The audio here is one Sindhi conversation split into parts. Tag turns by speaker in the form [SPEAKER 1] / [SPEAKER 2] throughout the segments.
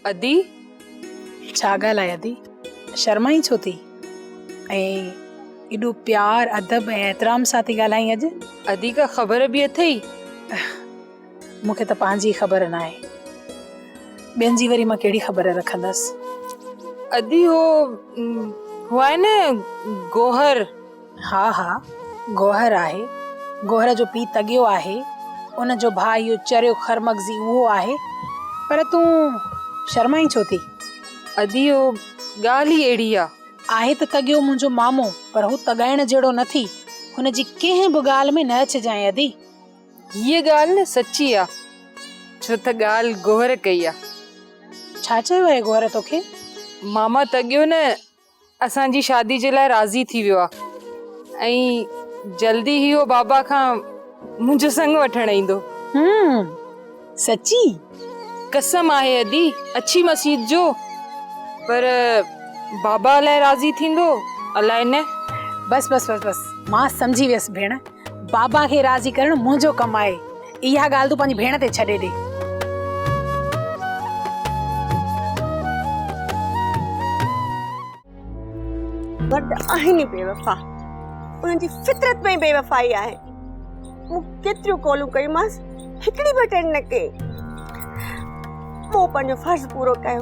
[SPEAKER 1] ادي،
[SPEAKER 2] ڇا ڳالهه آهي ادي، شرمائين ڇو ٿي؟ ۽ ايڏو پيار، ادب ۽ احترام سان ٿي ڳالهائين اڄ؟ ادي، ڪا خبر
[SPEAKER 1] به اٿئي؟
[SPEAKER 2] مون کي ته پنهنجي ئي خبر ناهي، ٻين جي وري مان ڪهڙي خبر رکندس؟ ادي،
[SPEAKER 1] هو، هو آهي نه گوهر. ها ها
[SPEAKER 2] گوهر آهي گوهر جو پي تڳيو آهي ان جو ڀاء اهو چريو خر مغزي اهو آهي پر تون شرمائين ڇو ٿي ادي اهو
[SPEAKER 1] ڳالهه ئي اهڙي آ. آهي ته تڳيو
[SPEAKER 2] منهنجو مامو پر هو تڳائڻ جهڙو نه ٿي هن جي ڪنهن به ڳالهه ۾ نه اچجانء ادي. هيء
[SPEAKER 1] ڳالهه سچي آ ڇو ته ڳالهه گوهر ڪئي آ. ڇا چيو
[SPEAKER 2] آهي گوهر توکي؟ ماما
[SPEAKER 1] تڳيو نه اسان جي شادي جي لاء راضي ٿي ويو آهي ۽ جلدي ئي اهو بابا کان منهنجو سڱ وٺڻ ايندو. هم
[SPEAKER 2] سچي؟
[SPEAKER 1] قسم آهي ادي اڇي مسيت جو پر بابا الائي راضي ٿيندو الائي نه. بس بس بس
[SPEAKER 2] بس مان سمجهي ويس ڀيڻ بابا کي راضي ڪرڻ منهنجو ڪم آهي. اها ڳالهه تون پنهنجي ڀيڻ تي ڇڏي ڏي.
[SPEAKER 3] مرد آهن ئي بيوفا انهن جي فطرت ۾ بيوفائي آهي مون ڪيتريون ڪالون ڪيمانس هڪڙي به اٽينڊ نه ڪئي مون پنهنجو فرض پورو ڪيو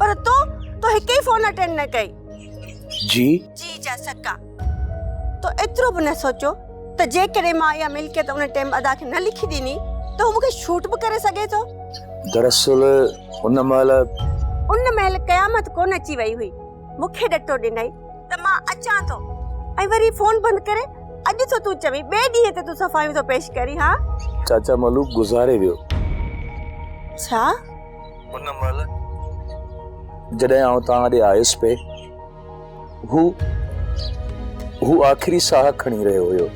[SPEAKER 3] پر تو تو هڪ ئي فون اٽينڊ نه ڪئي جي جي جا سڪا تو ايترو به نه سوچو ته جيڪڏهن مان اها ملڪيت ان ٽيم ادا کي نه لکي ڏني ته هو مونکي شوٽ به ڪري سگهي ٿو دراصل
[SPEAKER 4] ان مهل ان مهل قيامت ڪونه
[SPEAKER 3] اچي وئي هئي مونکي ڏٽو ڏنئي ته مان اچان ٿو ۽ وري فون بند ڪري اڄ ٿو تون چوين ٻئي ڏينهن تي تون صفايون ٿو پيش ڪرين ها چاچا ملوڪ
[SPEAKER 4] گذاري ويو
[SPEAKER 3] ڇا
[SPEAKER 4] ان مهل جڏهن آئون توهان ڏي آيس پئي هو هو آخري ساهه کڻي رهيو هيو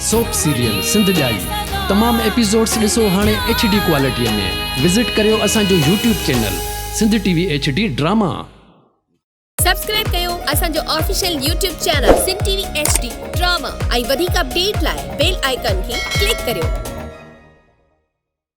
[SPEAKER 5] سوپ سيريل سنڌ ڄائي تمام ايپيسوڊس ڏسو هاڻي ايڇ ڊي ڪوالٽي ۾ وزٽ ڪريو اسان جو YouTube channel Sindh T V H D drama.
[SPEAKER 6] Subscribe ڪيو اسان جو official YouTube channel Sindh T V H D drama ۽ وڌيڪ اپڊيٽ لاء بيل آئيڪان کي ڪلڪ ڪريو.